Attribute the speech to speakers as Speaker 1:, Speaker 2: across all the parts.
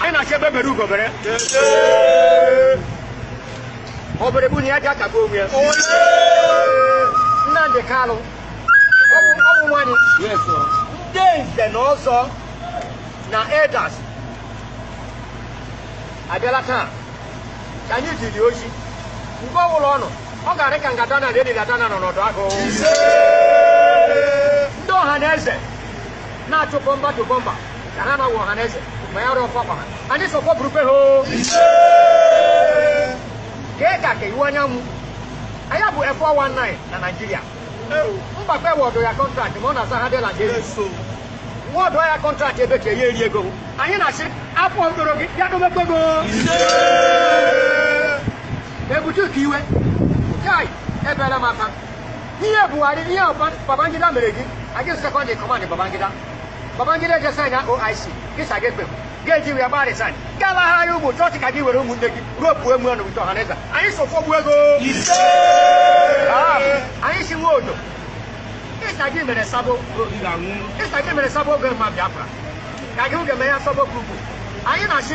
Speaker 1: anyị na-achọ egbe bere ugo bere ọ bịara egbu anyị ya ji aka gbuo onwe ya nnamdi kalụ ọ bụ ọ
Speaker 2: bụ nwa anyị ndị nze na ọzọ na elders abịala taa ka anyị jiri ozi mgbe ọbụla ọ nọ ọ ga-arị ka ngada na ledi dada na nọ n'ọdụ agụ ndị ọha na eze na-atụ bọmba do bọmba ka ha na-awụ ọha na eze ma ya rụọ fọkwa ha anyị sọkwa burukwe ha o kee ka ka iwuanyanwu ọ ya bụ F419 na Naịjirịa mbakwe awọdụ ya kọntraktị ma ọ na-aza hardel Naịjirịa wọdụ ya kọntraktị ebe ka ya eri ego anyị na-asị afọ mkpụrụ gị bịa domekwe go ebitu ukiwe chai ebere maka ihe buhari ihe babangida mere gị ọ gị second in command babangida babangida jee saịn oic gị sị agaghị ekwe gị eji wee gba resaịn galaghara ya ụmụ chọọchị ka gị were ụmụnne gị repụ emu ọnụ ụtọ ọhaneze anyị sị afọ gbuo gị anyị si nwe odo ịsa gị mere sabo ịsa gị mere sabo oge mma biafra ka gị oge mee ya sabo grupu anyị na-asị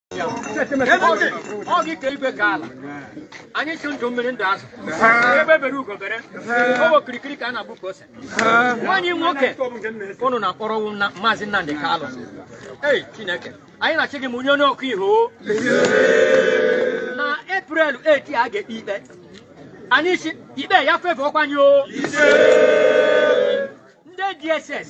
Speaker 2: ọ gị ka igwe ka ala anyị sị ndụ mmiri ndụ azụ egbe bere ugo bere ọ wụ kirikiri ka a na-agba ukwu ose nwa anyị nwoke ụnụ na-akpọrọwụ na maazị Nnamdi Kalụ ei Chineke anyị na-asị gị ma onye onye ọkụ iho na Eprel 8 a ga-ekpe ikpe anyị sị ikpe ya fevọọkwa anyị o ndị DSS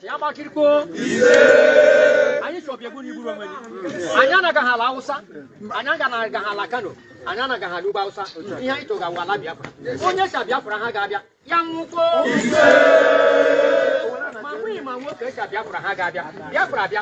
Speaker 2: ya gbakirikpo anyị sị ọbịa egbu anyị igburu onwe gị anyị anagaghị ala awụsa anyị aganaghị ala kano anyị anaghị ala ugbo awụsa ihe anyị chọga wụ ala biafra onye sị biafra agaghị abịa ya nwụkwọ ma nwunye ma nwoke sị biafra agaghị abịa biafra abịa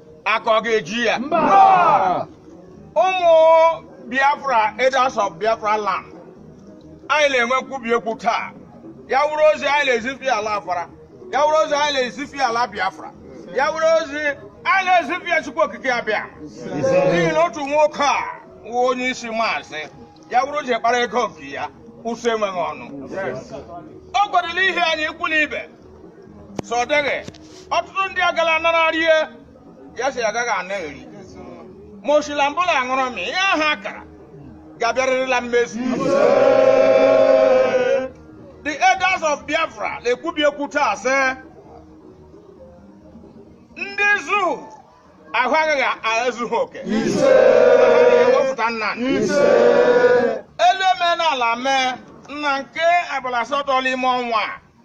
Speaker 3: aka ọ ga-eji ya ụmụ biafra elders of biafra land anyị na-enwe nkwubi okwu taa ya wụrụ ozi anyị na-ezifi ala afara ya wụrụ ozi anyị na-ezifi ala biafra ya wụrụ ozi anyị na-ezifi ya chukwu okike abịama n'ihi na otu nwoke a wụ onye isi maazị ya wụrụ ji kpara ego nke ya ụsọ enweghị ọnụ o kwadoro ihe anyị ikwu na ibe so ọ dịghị ọtụtụ ndị agala anara rie ya si agaghị ana eri ma osila mbụla aṅụrụ m ihe ahụ a kara ga-abịarịrị na mmezu the elders of biafra na-ekwubi okwu taa sị ndị zoo ahụ agaghị ezu ike ewepụta nna elu eme n'ala mee na nke abalị asatọ n'ime ọnwa a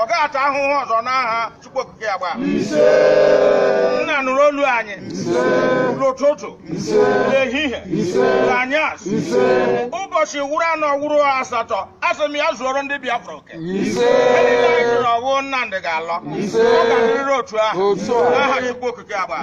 Speaker 3: ọ gaghị ata ahụhụ ọzọ n'aha Chukwu Okike ya gbaa nna nụrụ olu anyị n'ụtụtụ n'ehihie n'anyasị ụbọchị wụrụ anọ wụrụ asatọ asị m ya zuoro ndị Biafra oke niile anyị jụrụ ọnwụ Nnamdị ga-alọ ọ ga-adịrịrị otu ahụ n'aha Chukwu Okike ya gbaa